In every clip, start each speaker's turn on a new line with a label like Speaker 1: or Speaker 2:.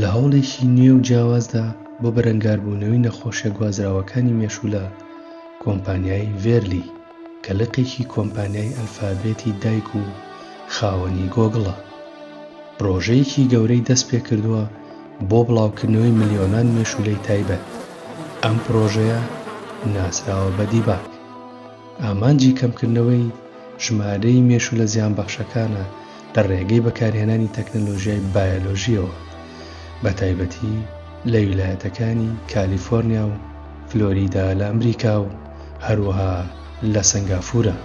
Speaker 1: لە هەوڵێکی نوێ و جیاوازدا بۆ بەرەنگاربوونەوەی نەخۆشیە گوازراوەکانی مێشوولە، کۆمپانیای ڤێرلی، کە لقێکی کۆمپانیای ئەلفابێتی دایک و خاوەنی گۆگڵە، پڕۆژەیەکی گەورەی دەستپێکردووە بۆ بڵاوکردنەوەی ملیۆنان مێشوولەی تایبەت، ئەم پڕۆژەیە ناسراوە بە دیباک. ئامانجی کەمکردنەوەی ژمارەی مێشولە زیانبەخشەکانە لە ڕێگەی بەکارهێنانی تەکنەلۆژیای بایۆلۆژییەوە، بەتایبەتی لە ویلایەتەکانی کالیفۆرنیا و فلۆریدا لە ئەمریکا و هەروەها لە سەنگافورە.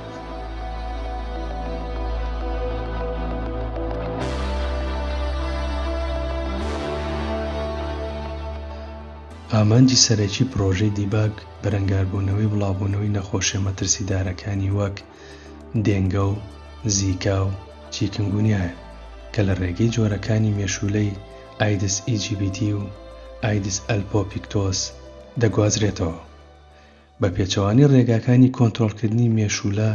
Speaker 1: ئامانجی سەرەکی پڕۆژەی دیباگ بەرەنگاربوونەوەی بڵاوبوونەوەی نەخۆشیە مەترسیدارەکانی وەک دێنگە و زیکا و چیکنگونیایە کە لە ڕێگەی جۆرەکانی مێشوولەی ئایدس ئیجیبیتی و ئایدس ئەلپۆپیکتۆس دەگوازرێتەوە. بە پێچەوانەی ڕێگاکانی کۆنترۆڵکردنی مێشوولە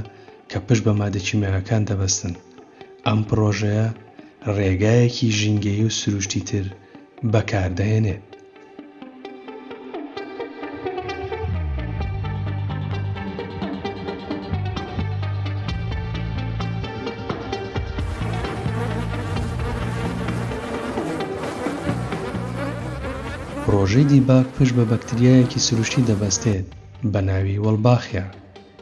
Speaker 1: کە پشت بە مادە کیمیاویەکان دەبەستن، ئەم پڕۆژەیە ڕێگایەکی ژینگەیی و سروشتیتر بەکاردەهێنێت. پڕۆژەی دیباک پشت بە بەکتریایەکی سروشتی دەبەستێت بە ناوی وەڵباخیا.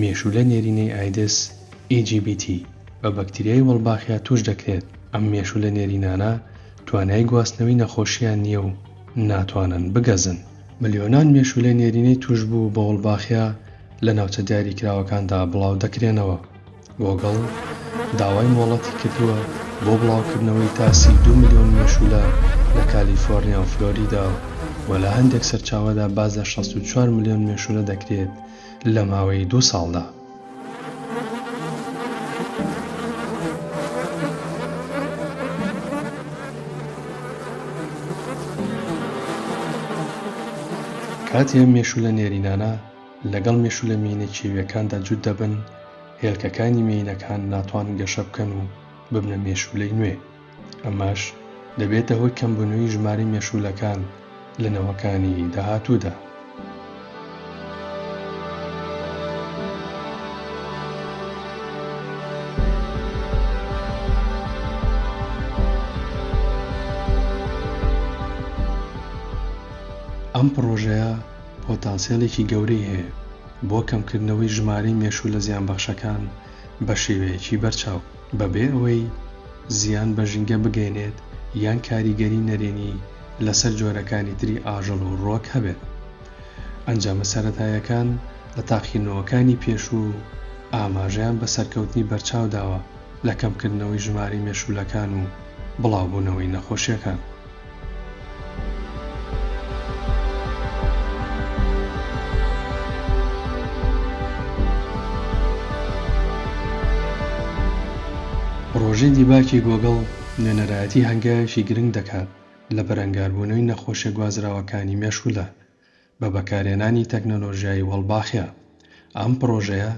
Speaker 1: مێشوولە نێرینەی ئایدز، EGBT، بە بەکتریای وەڵباخیا تووش دەکرێت، ئەم مێشوولە نێرینانە توانای گواستنەوەی نەخۆشییان نییە و ناتوانن بگەزن. ملیۆنان مێشوولە نێرینەی تووشبوو بە وەڵباخیا لە ناوچە دیاریکراوەکاندا بڵاو دەکرێنەوە. گۆگڵ داوای مۆڵەتی کردووە بۆ بڵاوکردنەوەی تا سی و دوو ملیۆن مێشوولە لە کالیفۆرنیا و فلۆریدا و لە هەندێک سەرچاوەدا باس لە شەست و چوار ملیۆن مێشوولە دەکرێت لە ماوەی دوو ساڵدا. کاتێ ئەم مێشوولە نێرینانە لەگەڵ مێشوولە مێینە کێوییەکاندا جووت دەبن، هێلکەکانی مێینەکان ناتوانن گەشە بکەن و ببنە مێشوولەی نوێ. ئەمەش دەبێتە هۆی کەمبوونەوەی ژمارەی مێشوولەکان لە نەوەکانی داهاتوودا. ئەم پڕۆژەیە پۆتانسیێلێکی گەورەی هەیە بۆ کەمکردنەوەی ژمارەی مێشوو لە زیانبەخشەکان بە شێوەیەکی بەرچاو. بەبێ ئەوەی زیان بە ژینگە بگەینێت یان کاریگەری نەرێنی لەسەر جۆرەکانی تری ئاژەڵ و ڕوەک هەبێت. ئەنجامە سەرەتایەکان لە تاقیرنەوەکانی پێشوو ئاماژەیان بە سەرکەوتنی بەرچاو داوە لە کەمکردنەوەی ژمارەی مێشوولەکان و بڵاوبوونەوەی نەخۆشیەکان. پڕۆژەی دیباکی گۆگڵ نوێنەرایەتی هەنگاوێکی گرنگ دەکات لە بەرەنگاربوونەوەی نەخۆشیە گوازراوەکانی مێشولە بە بەکارهێنانی تەکنەلۆژیای وەڵباخیا، ئەم پڕۆژەیە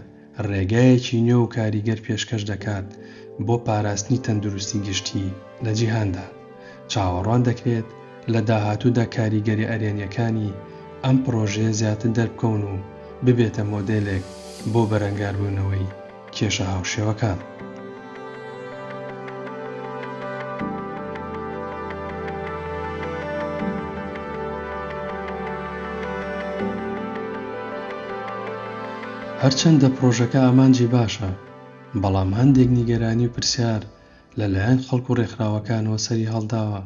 Speaker 1: ڕێگایەکی نوێ و کاریگەر پێشکەش دەکات بۆ پاراستنی تەندروستی گشتی لە جیهاندا. چاوەڕوان دەکرێت لە داهاتوودا کاریگەریە ئەرێنییەکانی ئەم پڕۆژەیە زیاتر دەربکەون و ببێتە مۆدێلێک بۆ بەرەنگاربوونەوەی. کێشە هاوشێوەکان. هەرچەندە پرۆژەکە ئامانجی باشە، بەڵام هەندێک نیگەرانی و پرسیار لەلایەن خەڵک و ڕێکخراوەکانەوە سەری هەڵداوە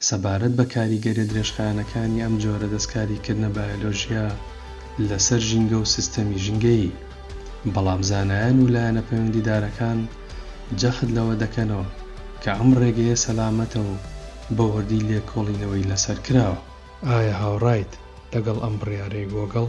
Speaker 1: سەبارەت بە کاریگەریە درێژخایەنەکانی ئەم جۆرە دەستکاریکردنە بایۆلۆژیە لەسەر ژینگە و سیستەمی ژینگەیی، بەڵام زانایان و لایەنە پەیوەندیدارەکان جەخت لەوە دەکەنەوە کە ئەم ڕێگەیە سەلامەتە و بە وردی لێکۆڵینەوەی لەسەر کراوە. ئایا هاوڕایت لەگەڵ ئەم بڕیارەی گۆگڵ؟